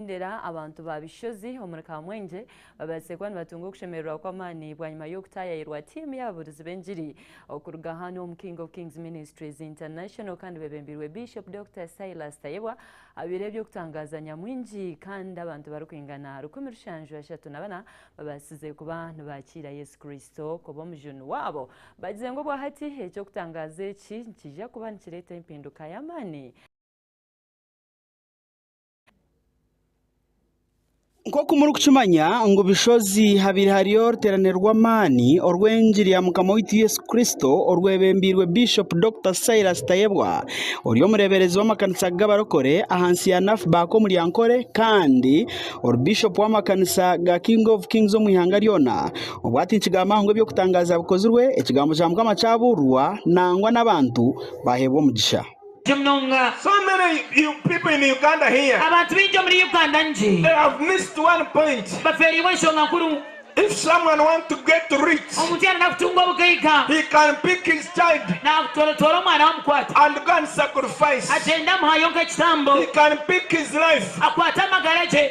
Ndera, Abantu ba Bishozi omuri Kamwengye babaasire kuba nibatunga okushemererwa kw'amaani bwanyima y'okutaayayirwa tiimu y'ababuurizi b'engiri okuruga hanu omu King of Kings Ministries International kandi bebembirwe Bishop Doctor Silas Tayebwa abaire eby'okutangaaza nyamwingi kandi abantu barikwingana rukumi rushanju ashatu na bana babaasize kuba nibaakiira Yesu Kristo kuba omujuni waabo bagize ngu obwahati eky'okutangaaza eki nikiija kuba nikireeta empinduka y'amaani Nk'oku murikukimanya ngu Bushozi habaire hariyo oruteerane rw'amaani orw'engi rya Mukama waitu Yesu Kristo orwebembeirwe Bishop Dokita Silas Tayebwa ori omureeberezi w'amakanisa g'abarokore ahansi ya NAFBAK omu Ryankore kandi ori Bishop w'amakanisa ga King of Kings omu ihanga ryona obu ati nikigamba ngu eby'okutangaaza bikozirwe ekigambo kya Mukama kyabuurirwa nangwa n'abantu baaheebwa omugisha. Abantu baingi omuri Uganda bafeereirwe enshonga nkuru. Omuntu yaarenda kutunga obugaiga, naatwara omwana we amukwate, agyende amuhaayo nk'ekitambo, akwate amagara ge.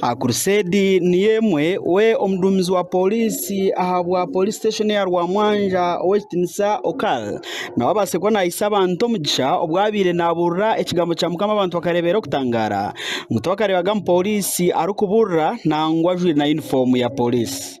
Akuruseedi niyo emwe we omuduumizi wa pooriisi ahabwa pooriisi siteeshoni eya Rwamwanja ow'ekitiinisa Okal nawe abatsire kuba nahaisa abantu omugisha obu abaire nabuurira ekigambo kya mukama abantu bakareeba erikitangaara ngu tibakareebaga mupooriisi arikubuurira nangwa ajwaire na yunifoomu ya pooriisi.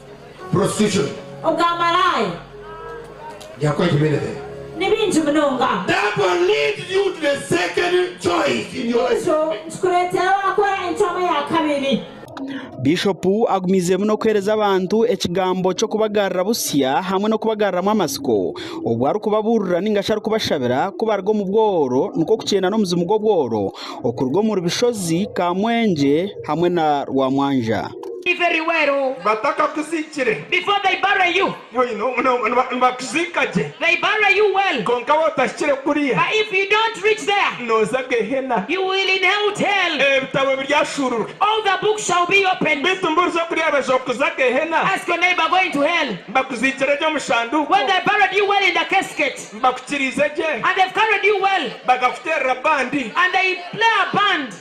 prostitution. Obwamaraaya. They are quite many there. Ni bingi munonga. That will lead you to the second choice in your life. Ekyo nikikureetera waakora encwamu eya kabiri. Bishopu agumiizeemu n'okuheereza abantu ekigambo ky'okubagarura butsya hamwe n'okubagaruramu amatsiko obu arikubabuurira ninga shi arikubashabira ku baruga omu bworo nikwo kukyenda n'omuzimu gw'obworo okuruga omuri Bishozi, Kamwengye, hamwe na Rwamwanja. Batakakuziikire, nibakuziika gye, kwonka waatahikire kuriya, nooza Gehenna. Ebitabo biryashuururwa. Beitu mbworiza okuryabaza okuza Gehenna, bakuziikire gye omu shanduuko, bakukiriize gye, bakakuteerera bandi.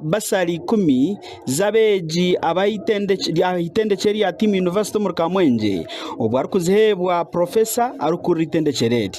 baasari ikumi z'abeegi aha itendekye rya Team University omuri Kamwengye obwo arikuziheebwa Profesa arikukurira itendekye eri.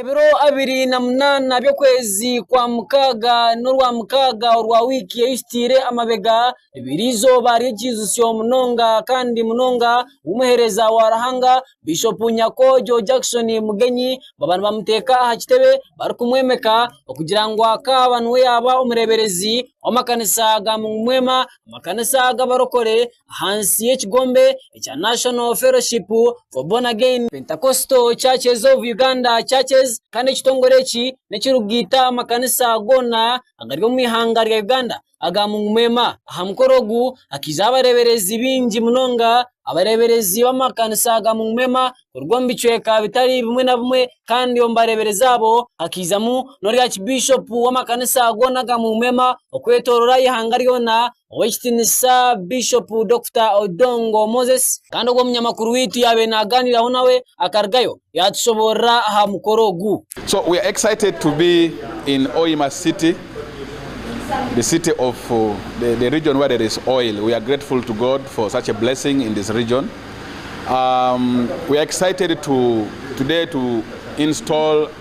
Ebiro abiri na munaana by'okwezi kwa mukaaga n'orwa mukaaga orwa wiiki eyahikaire amabega, niriba eizooba ry'ekiijutsyo munonga kandi munonga, ahu omuheereza wa Ruhanga Bishopu Nyakwojo Jackson Mugenyi baaba nibamuteeka aha kitebe barikumwomeka okugira ngu akaaba niwe yaabe omureeberezi w'amakanisa ga Mumwema, amakanisa g'abarokore. ahansi y'ekigombe ekya National Fellowship for Born Again Pentecostal Churches of Uganda Churches kandi ekitongore eki n'ekirikugaita amakanisa goona agari omu ihanga rya Uganda aga Mungu Mwema. Aha mukoro ogu hakaizeho abareeberezi baingi munonga, abareeberezi b'amakanisa ga Mungu Mwema kuruga omu bicweka bitari bimwe na bimwe kandi omu bareeberezi abo hakaizamu n'orwa kibiishopu w'amakanisa goona aga Mungu Mwema okwetooroora eihanga ryona. ow'ekitiinisa Bishop Dokita Odongo Moses kandi ogwo munyamakuru waitu yaabaire naagaaniraho nawe akarugayo yaatushoboorora aha mukoro ogu. So we are excited to be in Hoima city, the city of the the region where there is oil. We are grateful to God for such a blessing in this region. Um we are excited to today to install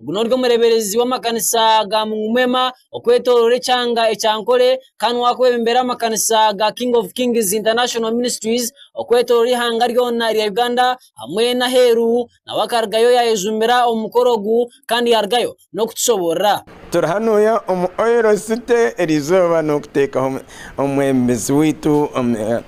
Ogu n'ori omureeberezi w'amakanisa ga Mungumema okwetooroora ekyanga ekya Ankole kandi niwe arikwebembera amakanisa ga King of Kings International Ministries okwetooroora eihanga ryona erya Uganda hamwe n'aheeru nawe akarugayo yaayejumira omu mukoro ogu kandi yaarugayo n'okutushoboorora. Turi hanu omu Oil City erizooba n'okuteekaho omwebembezi waitu.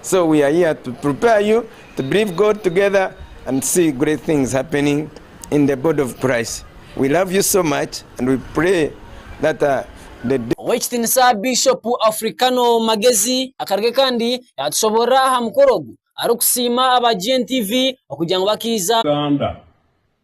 So we are here to prepare you to believe God together and see great things happening in the body of Christ. We love you so much and we pray that uh, the day Ow'ekitinisa Bishop Africano Magezi akaruge kandi yatushoborora aha mukoro ogu, arikusiima aba GNTV okugira ngu bakaiza. Uganda.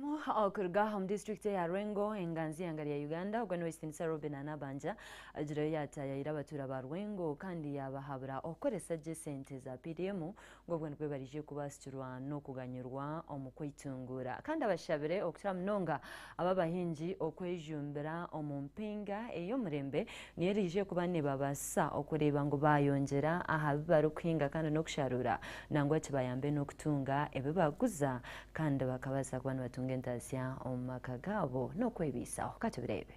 Abazamu okuruga omu disiturikiti eya Lwengo, enganzi eihanga rya Uganda, ogwo niwe Ekitiinisa Robinah Nabbanja agireho yaataayaayira abatuura ba Lwengo kandi yaabahabura okukoresa gye sente za PDM ngu obwo nibwo baraije kubaasikirwa n'okuganyirwa omu kwetunguura kandi abashabire okukira munonga aba abahingi okwejumbira omu mpinga ey'omurembe niyo eraije kuba neebabaasisa okureeba ngu baayongyera aha bi barikuhinga kandi n'okusharuura nangwa kibayambe n'okutunga ebi baaguza Kandi bakabaasa kuba nibatunga entaasya omu maka gaabo n'okwebaisaho. Ka tubireebe.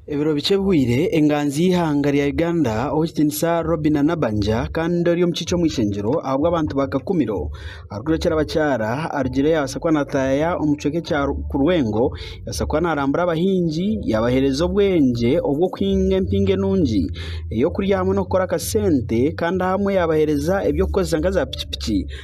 Ebiro bikye bihweire, enganzi y'eihanga rya Uganda Ow'ekitiinisa Robinah Nabbanja kandi ori omukiiki omw'ishengyero ahabw'abantu ba Kakumiro arikurekyera abakyara arugire yabaasa kuba nataya omukicweka ekya Kurwengo yabaasa kuba narambura abahingi yabahereza obwengye obw'okuhinga empingo enungi ey'okurya hamwe n'okukora akasente kandi ahamwe yabahereza eby'okukoresa nka za pikipiki.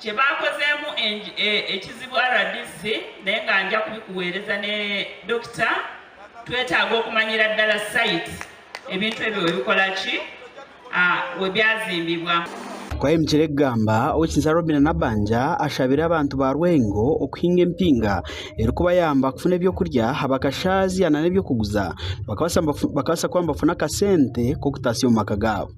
Kye baakozeemu ekizibu rdc n'enganja kubikuweereza ne Dokita twetaaga okumanyira ddala site ebintu ebyo webikola ki webyazimbibwa. Kwahemukire kugamba, Owekinsya Robina Nabanja ashabire abantu ba Rwengo okuhinga empinga erikubayamba kufuna eby'okurya aha bakashaazya nana eby'okuguza bakabaasa kuba nibafuna akasente k'okutaasya omu maka gaabo.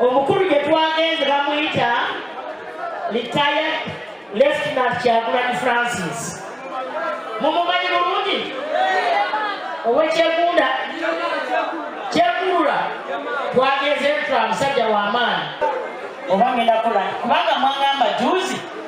Omukuru gye twagenze bamweta Retired Lieutenant Kyagulanyi Francis. Mumumanyi burungi? Owe Kyegunda, Kyegurura. Twagenzeyo nituraha musajja wa maani. Oba nyine akora nti? Kubanga mwangamba juuzi.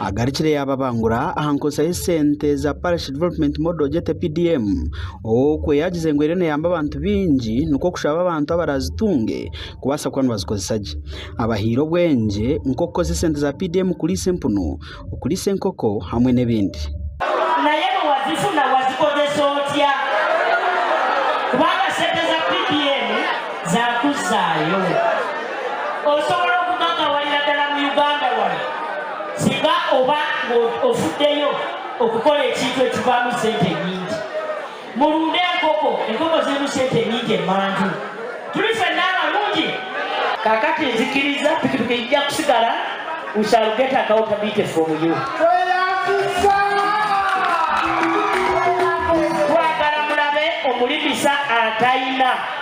Agarukire yaababangura aha nkozesa y'esente za Parish Development Model Budget, PDM, ow'okwe yaagize ngu eriyo neeyamba abantu baingi nikwo kushaba abantu abaraazitunge kubaasa kuba nibazikozesa gye. Abahaire obwengye nk'okukozesa esente za PDM kuriisa empunu, okuriisa enkoko hamwe n'ebindi. Naye niwazifuna wazikozesa otya? Kubanga sente za PDM Zakuzaayo. Osobola okuguma nka wari nadala mu Uganda wari singa oba ngu ofuddeyo okukola ekintu ekivaamu sente nyingi. Murunde enkoko. Enkoko zirimu sente nyingi emanju. Turi ffenna abarungi? Kakati nzikiriza pikipiki yija kusigara we shall get account a bit from you. Twagala murabe omuri misa atayina.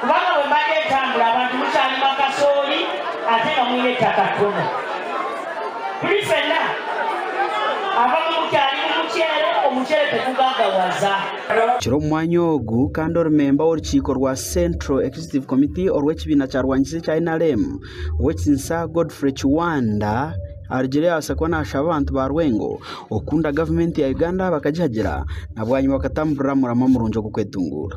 Kubanga bwe mba ndetambura abantu mukyarimu akasoori ate nga mwine ettaka ttono. Tuli fena. Abamu mukyarimu muceere, omuceere tegugagawaza. Kiro omu mwanya ogu kandi ori memba w'orukiiko rwa Central Executive Committee orw'ekibiina kya rwanyisa ekya nrm, ow'ekitinisa Godfrey Kiwanda arugire yabaasa kuba nashaba abantu ba Rwengo okukunda gavumenti ya Uganda bakagihagira nabwanyima bakatamburira murama murungi ogw'okwetunguura.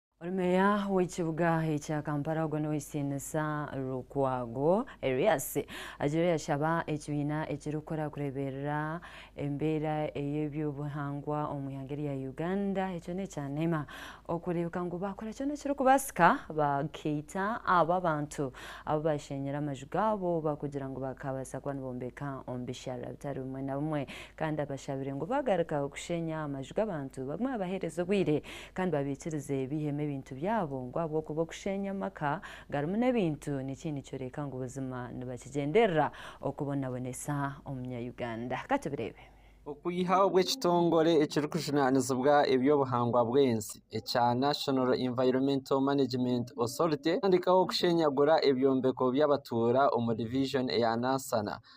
Ori meeya w'ekibuga ekya Kampala ogwo n'ow'eisiinisa Lukwago Erias agira yashaba ekibiina ekirikukora kureeberera embeera ey'eby'obuhangwa omu ihanga erya Uganda ekyo n'ekya nema okureebeka ngu baakora kyona ekirikubaasika bakaita abo abantu abu baashenyire amaju gaabo oba kugira ngu bakaabaasa kuba nibombeka omu bisharara bitari bimwe na bimwe kandi abashabire ngu baagaruka kushenya amaju g'abantu bagume babaheereze obwire Kandi babiikirize baihemu ebintu byabo ngu ahabw'okuba okusheenya amaka garimu n'ebintu nikyo nikyoreka ngu buzima nibakigyenderera okubonabonesa Omunya-Uganda. Ka tubireebe. Okwiha obw'ekitongore ekirikujunaanizibwa eby'obuhangwa bw'ensi ekya National Environmental Management Authority kutandiikaho kushenyagura ebyombeko by'abatuura omu Division eya Nansana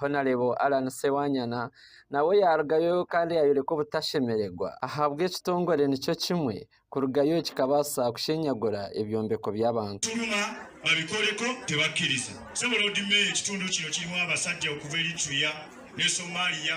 Honarebo Allan Sewanyana nawe yaarugayo kandi yaayoreka obutashemererwa ahabwa ekitongore nikyo kimwe kurugayo kikabaasa kushenyagura ebyombeko by'abantu. Nyuma babikoreko tebakiriza. Ssebo Lord Mayor ekitundu kino kirimu abasajja okuva Eritrea ne Somalia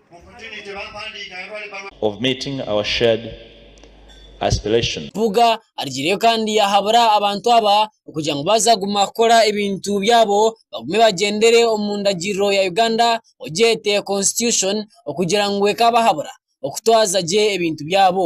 of meeting our shared aspiration. Mpuuga arigireyo kandi yahabura abantu aba okugira ngu baaza kuguma kukora ebintu byabo bagume bagyendere omu ndagiriro ya Uganda ogyete constitution okugira ngu ekaabahabura okutwaza gye ebintu byabo.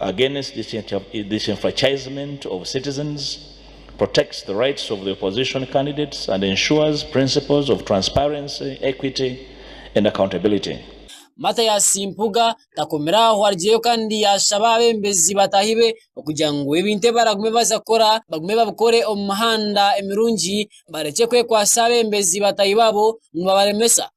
against disenfranchisement of citizens, protects the rights of the opposition candidates and ensures principles of transparency, equity and accountability. Mathias Mpuuga takomire aho arugyeyo kandi yaashaba abeebembezi bataahi be okugira ngu ebintu ebi baragume baza kukora bagume babikore omu mihanda emirungi barekye kwekwatsa abeebembezi bataahi baabo ngu babaremesa.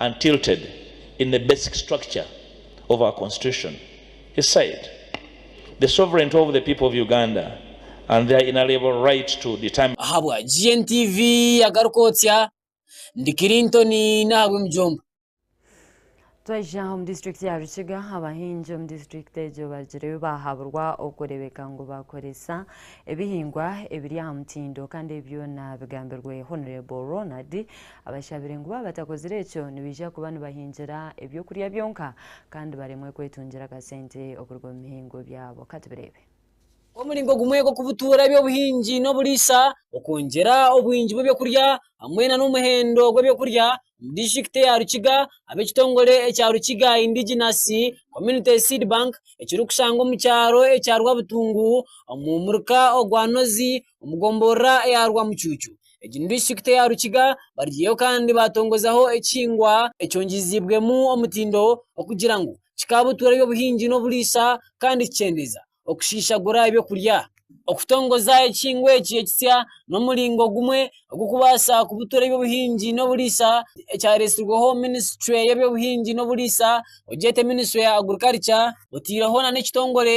and tilted in the basic structure of our constitution, he said the sovereignty of the people of Uganda and their inaliable right to determine. Ahabwa GNTV agaruka otya? Ndi Clinton nahabwemijumba. Twayija omu district ya Rukiga, abahingi omu district egyo barugirwe bahaburwa okurebeka ngu bakoresa ebihingwa ebiri ahamutindo kandi ebi byona bigambirwe Honorable Ronald Abashabire ngu baaba batakozire ekyo nibaija kuba nibahingira eby'okurya byonka kandi baremwe kwetungira akasente okuruga omu mihingo byabo. Ka tubireebe. Omuringo gumwe gw'okubutuura eby'obuhingi n'oburiisa, okwongyera obwingi bw'eby'okurya hamwe na n'omuhendo gw'eby'okurya omu disiturikiti ya Rukiga ab'ekitongore ekya Rukiga Indigenous Community Seed Bank ekirikushangwa omu kyaro ekya Rwabutungu omu muruka ogwa Nozi omu gomborora eya Rwamucuucu. Egi ni disiturikiti eya Rukiga barigiiyeho kandi baatongozaho ekihingwa ekyongiiziibwemu omutindo okugira ngu kikabutuura eby'obuhingi n'oburiisa kandi kikyendeeza okushiishagura eby'okurya. Okutongoza ekihingwa eki ekitsya n'omuringo gumwe ogw'okubaasa kubutuura eby'obuhingi n'oburiisa ekyareetsirweho minisitule y'eby'obuhingi n'oburiisa ogyete minisitule ya agurikarikya oteireho n'ekitongore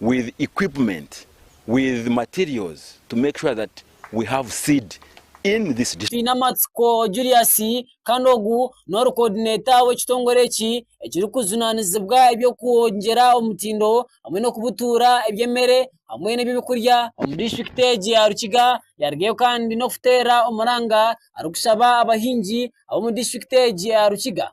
with equipment with materials to make sure that we have seed in this district. Twine amatsiko Julius kandi ogu n'ori coordinator w'ekitongore eki ekirikujunanizibwa eby'okwongyera omutindo hamwe n'okubutuura eby'emere hamwe n'eby'okurya omu district egi ya Rukiga yarugayo kandi n'okuteera omuranga arikushaba abahingi ab'omu district egi ya Rukiga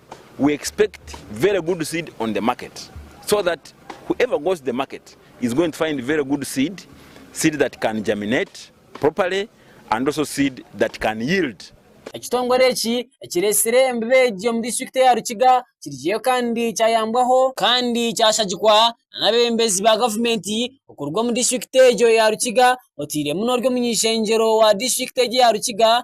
We expect very good seed on the market so that whoever goes to the market is going to find very good seed, seed that can germinate properly and also seed that can yield. Ekitongore eki ekiretsire embibe egi omu district eya Rukiga kirijeyo kandi kyayambwaho kandi kyashagikwa n'abebembezi ba gavumenti okuruga omu district egyo eya Rukiga oteiremu n'ori omuny'ishengyero wa district egyo eya Rukiga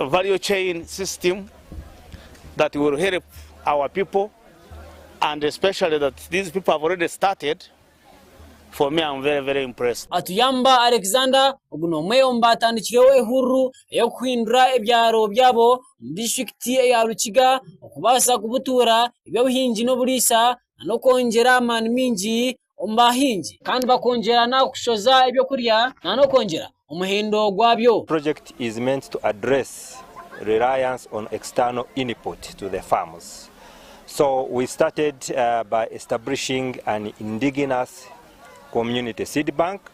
value chain system that will help our people and especially that these people have already started for me am very very impressed. Atuyamba Alexander ogu n'omwe omu baatandikireho ehururu ey'okuhindura ebyaro byabo omu disiturikiti eya Rukiga okubaasa kubutuura eby'obuhingi n'oburiisa n'okwongyera amaani maingi omu bahingi kandi bakongyera n'ahakushoza eby'okurya nana okwongyera omuhindo gwabyo. Project is meant to address reliance on external input to the farms so we started by establishing an indigenous community seed bank.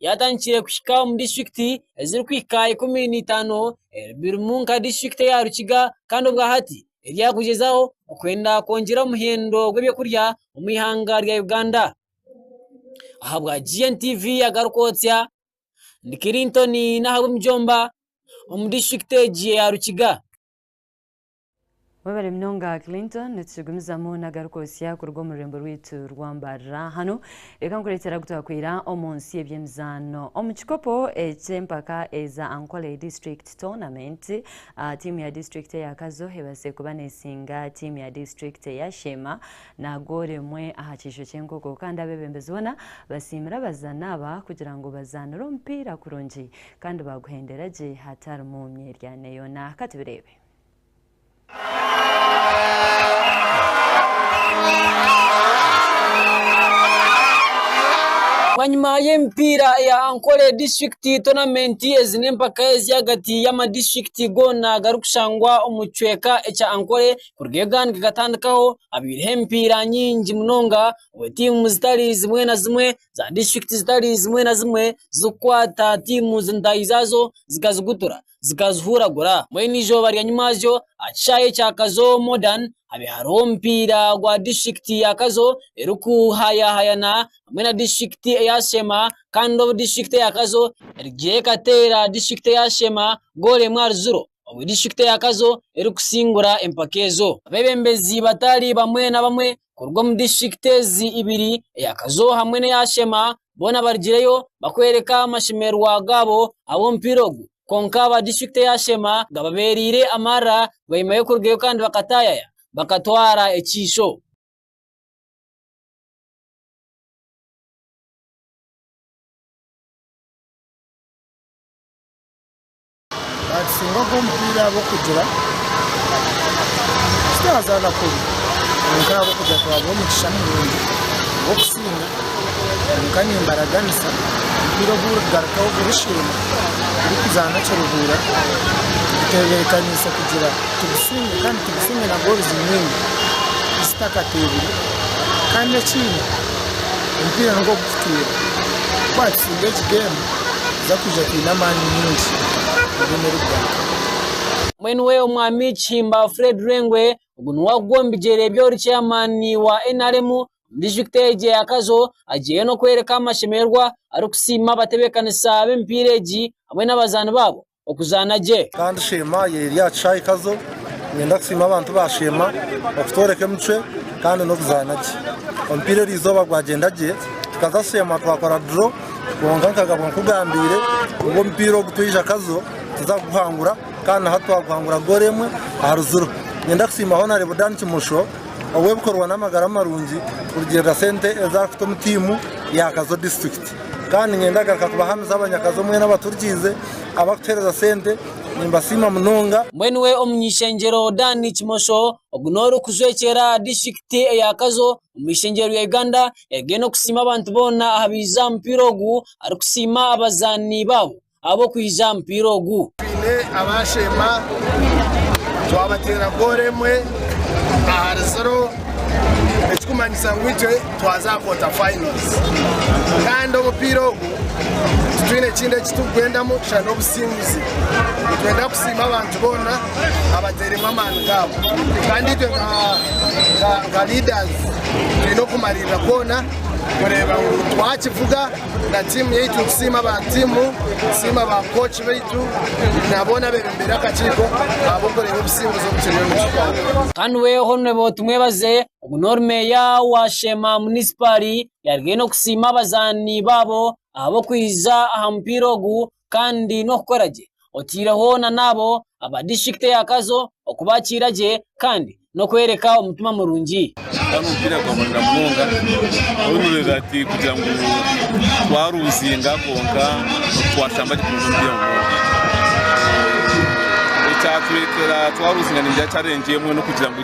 yatandikire kuhika omu disiturikiti ezirikuhika ikumi na itaano ebirimu nka disiturikiti eya Rukiga kandi obwa hati eri aha kugyezaho kwenda kwongyera omuhendo gw'eby'okurya omu ihanga rya Uganda. Ahabwa GN TV agaruka otsya ndi Clinton Nahabwa omujomba omu disiturikiti egi eya Rukiga. Webare munonga Clinton, nitukigumizamu nagaruka osya kuruga omu rurembo rwitu rw'ambarira. Hanu reka nkuretere agu twakwaira omu nsi y'eby'emizaano. Omu kikopo eky'empaka eza Ankole District Tournament, tiimu ya disiturikiti eya Kazo ebaasize kuba nesinga tiimu ya disiturikiti eya Sheema na goolo emwe aha kiijo ky'enkoko kandi abebembezi boona basiimire abazaani aba kugira ngu bazaanire omupiira kurungi kandi baaguhendera gye hatarimu myeryane yoona. Ka tubireebe. Bwanyima y'emipiira eya Ankole disiturikiti tonamenti, ezi n'empaka ez'ahagati y'amadistritikiti goona garikushangwa omu kicweka ekya Ankole kuruga ebi gatandikaho habaireho emipiira mingi munonga obu tiimu zitari zimwe na zimwe za disiturikiti zitari zimwe na zimwe zirikukwata tiimu ntaahi zaazo zikazigutura. zikazihuragura mbwenu eizooba ryanyimwazyo aha kishaayi ekya Kazo Modern habe hariho omupiira gwa disiturikiti ya Kazo erikuhayahayana hamwe na disiturikiti eya Sheema kandi obu disiturikiti eya Kazo erigiire ekateera disiturikiti eya Sheema goolo emwe ahari ziro obu disiturikiti eya Kazo erikusingura empaka ezo. Abeebembezi bataari bamwe na bamwe kuruga omu disiturikiti ezi ibiri eya Kazo hamwe n'eya Shema boona barigireyo bakworeka amashemererwa gaabo ah'omupiira ogu kwonka aba disiturikiti eya Shema gababereire amarira bwanyima y'okurugayo kandi bakatayaya bakatwara ekiisho. Abasinga ogw'omupiira ab'okugira eki twazaana kubi kwonka ahabw'okugira twabaha omugisha murungi gw'okusiima kwonka nimbaraganisa omupiira ogu orikugarukaho gurisiima turikuzaana Kiruhura tugutebeekaniise kugira tugusiime kandi tugusiime na gooluzi nyingi zitakateebire kandi ekindi omupiira nigwo gututiire Nitucunga egi geemu tuza kwija twine amaani maingi eiziina eri kugaruka. Mwenu we Omwami Kihimba Fred Rwengwe ogu niwe arikuba omu bigyere by'ori Chairman wa nrm omu district egyo eya Kazo agyeyo n'okworeka amashemererwa arikusiima abatebekanisa b'emipiira egi hamwe n'abazaani baabo. okuzaana gye. Kandi sheema ye eri aha kishaayi Kazo. Niinyenda kusiima abantu ba sheema okutworeka emicwe kandi n'okuzaana gye. Omupiira erizooba gwagyenda gye tukaza kusheema twakora draw kwonka nkagabwa nkugambiire ngu omupiira ogu twaija Kazo tuza kuguhangura kandi na hati twaguhangura goolo emwe aha ruziro. Niinyenda kusiima Honarebo Dan Kimosho ow'ebikorwa n'amagara marungi kurugiirira sente ezi arikuta omu tiimu ya Kazo disiturikiti. Kandi ninyenda kugaruka kubahamiza abanyakazi omwe n'abaturikiize abarikutuheereza sente. Nimbasiima munonga. Mbwenu we Omuny'ishengyero Dan Kimosho, ogu n'orikujwekyera aha disiturikiti eya Kazo omu ishengyero rya Uganda, yayegire n'okusiima abantu boona ahabaize aha mupiira ogu, arikusiima abazaani baabo. ahabw'okwija aha mupiira ogu. Twine abaashemba twabateera goolo emwe ahari ziro ekikumanyisa ngu itwe twaza aha quarter finals kandi omupiira ogu titwine kindi eki turikugwendamu shana n'obusinguzi. Nitwenda kusiima abantu boona abateiremu amaani gaabo kandi itwe nka leaders twine okumariirira kwona kureeba ngu twakivuga na tiimu yaitu nitusiima ba tiimu tusiima ba kooki baitu na boona abebembeire akakiiko ahabw'okureeba obusinguzi obu kiriyo nikituha Kanwe Honrebo Tumwebaze ogu n'ori meeya wa Sheema munisipaari yaarugayo n'okusiima abazaani baabo ahabw'okwija aha mupiira ogu kandi n'okukora gye otaireho na n'abo aba disiturikiti ya Kazo okubakiira gye kandi n'okworeka omutima murungi. Gukaba n'omupiira gwa munonga munonga oriyo nooreeba ati kugira ngu twaruuzinga kwonka twashamba gye kurungi omupiira munonga. Ekyatureetera twaruuzinga ningira charengi emwe n'okugira ngu.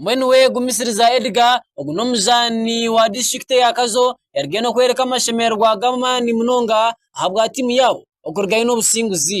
Mbwenu we gumisiriza Edgar, ogu n'omuzaani wa disiturikiti eya Kazo yaruga enu kworeka amashemererwa g'amaani munonga ahabwa tiimu yaabo okurugayo n'obusinguzi.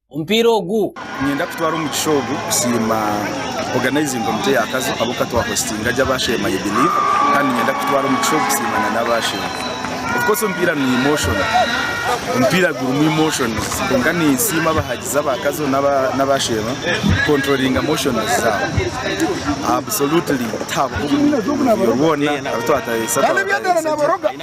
omupiira ogu. Niinyenda kutwara omukisha ogu kusiima organizing komite ya Kazo abu ka twa hostinga gye abasheema I believe kandi niinyenda kutwara omukisha ogu kusiima na n'abasheema. Of course omupiira ni emotion, omupiira gurimu emotions kwonka ninsiima abahagizi aba Kazo n'abasheema ku controllinga emotions zaabo. Absolutely tiharuho omuntu rwoona aru twatayayisa twaba twayayisagira.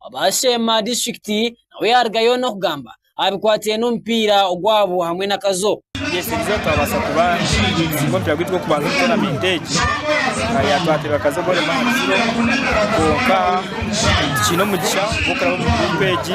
Owaasheema District nawe yaarugayo n'okugamba aha bikwatiraine n'omupiira ogwabo hamwe na Kazo. Tugyesigizeho twabaasa kuba tusiinga omupiira gwaitu gw'okubanza omu toonamenti egi. Twatebwa Kazo Gor Mahia Zero kwonka tikiine omugisha gw'okuraba omu guruupu egi.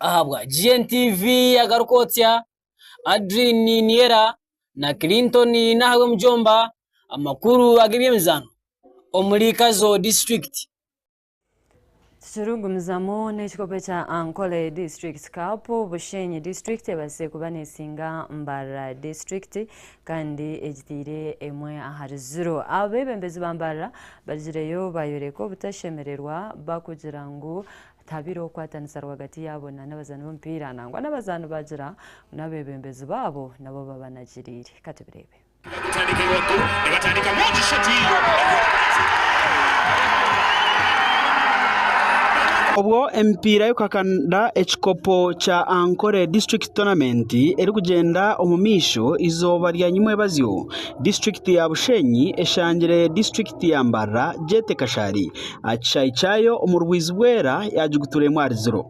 Ahabwa GNTV agaruka otsya Adrine Niniera na Clinton Nahayo Mujomba amakuru ag'eby'emizaano omuri Kazo disiturikiti. Tukirikugumizamu n'ekikopo ekya Ankole District Cup, Bushenyi District ebaasize kuba neesinga Mbarara District kandi egitaire emwe ahari ziro. Abeebembezi ba Mbarara barigireyo baayoreka obutashemererwa bakugira ngu tihabaire okukwatanisa rwagati yaabo nana abazaani b'omupiira nangwa n'abazaani baagira ngu n'abeebembezi baabo nabo babanagiriire. Katubireebe. Obwo emipiira y'okuhakanira ekikopo kya Ankole District Tournament erikugyenda omu maisho eizooba rya nyimwebazyo, District ya Bushenyi eshangire District ya Mbarara Jete Kashari aha kishaayi kyayo omu Rwizi Bwera yagigutura emwe ahari ziro.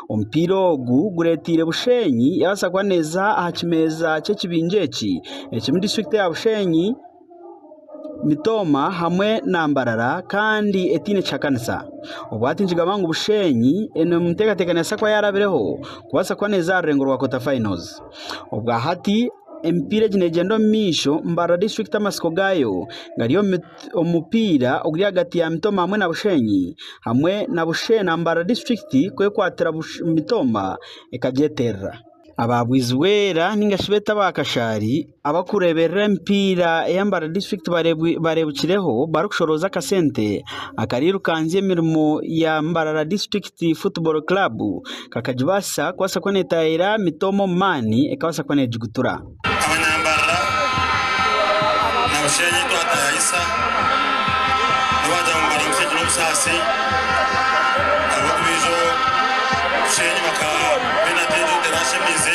Omupiira ogu gureteire Bushenyi yabaasa kuba neeza aha kimeeza ky'ekibinja eki ekirimu disiturikiti ya Bushenyi, Mitooma hamwe na Mbarara kandi etaine kihakanisa. Obwo hati nikigambibwa ngu Bushenyi eri omu nteekateeka neebaasa kuba yaarabireho kubaasa kuba neeza aha rurengo rwa kota fayinos. Obwa hati Emipiira egi neegyenda omu maisho. Mbarara District amatsiko gaayo gari omu mupiira oguri ahagati ya Mitooma hamwe na Bushenyi hamwe na Bushe na Mbarara District kwekwatira Mitooma ekagyeterera. Aba Bwizibwera nainga shi beete aba Kashaari abarikureeberera emipiira eya Mbarara District bareebukireho barikushorooza akasente akarirukanzya emirimo ya Mbarara District Football Club. kakagibaasisa kubaasa kuba neetaayaayira mitoomo omu maani ekabaasa kuba neegigutura. Aho nyambarira na Busheenyi twataayaayisa nabo baagira ngu mbari nkutegire obusaasi ahabw'okuba ijo Busheenyi bakaba baine ateegyetera ashemeize.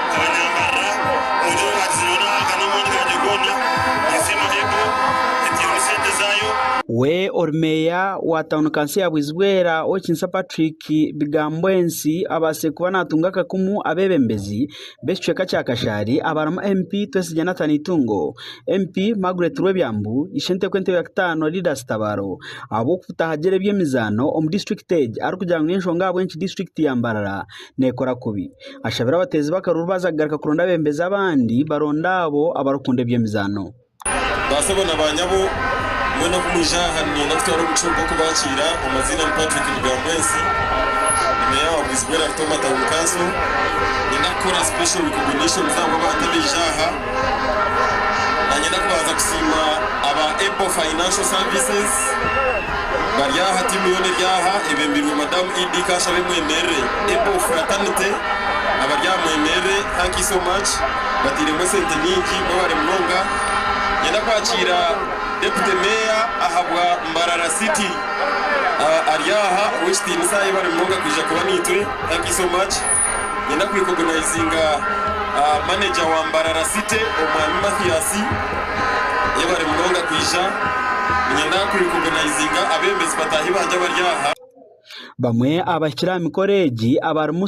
We ori meeya wa tauni kanso ya Bwizibwera Owekinsa Patrick Bigamboensi abatsire kuba natunga akakumu abebembezi b'ekicweka kya Kashari abarimu MP Twesigye Nathan Itungo, MP Margret Rwebyambu, Ishente kw'entebe ya kitaano Lidas Kitabaro ahabw'okubutahagire eby'emizaano omu disiturikiti egi arikugira ngu n'enshonga ahabw'enki disiturikiti ya Mbarara neekora kubi. Ashabire abateezi b'akaruru baaza kugaruka kuronda abeebembezi abandi baronde abo abarikukunda eby'emizaano. Baasebo na baanyabo, mwena oku mwija aha niinyenda kutwara omugisha ogu gw'okubaakiira. Amaziina ni Patrick Rugambwensi. Ndi Meeya wa Bwizibwera Rutoma Town Council. Niinyenda kukora special recognitions ahabw'abantu abaija aha. Nanyenda kubanza kusiima aba Apple Financial Services bari aha tiimu yoona eri aha ebembirwe madamu Idd Kashabe mwemerere Apple Fraternity abari aha mwemerere thank you so much batairemu esente nyingi mwebare munonga. Ninyenda kwakiira Deputy Mayor ahabwa Mbarara City ari aha ow'ekitiinisa yebare munonga kwija kuba naitwe thank you so much. Niinyenda ku recognizinga manager wa Mbarara City omwami Mathias yebare munonga kwija. Niinyenda ku recognizinga abebembezi bataahi bangye abari aha. Bamwe abahikire aha mikoro egi abarimu.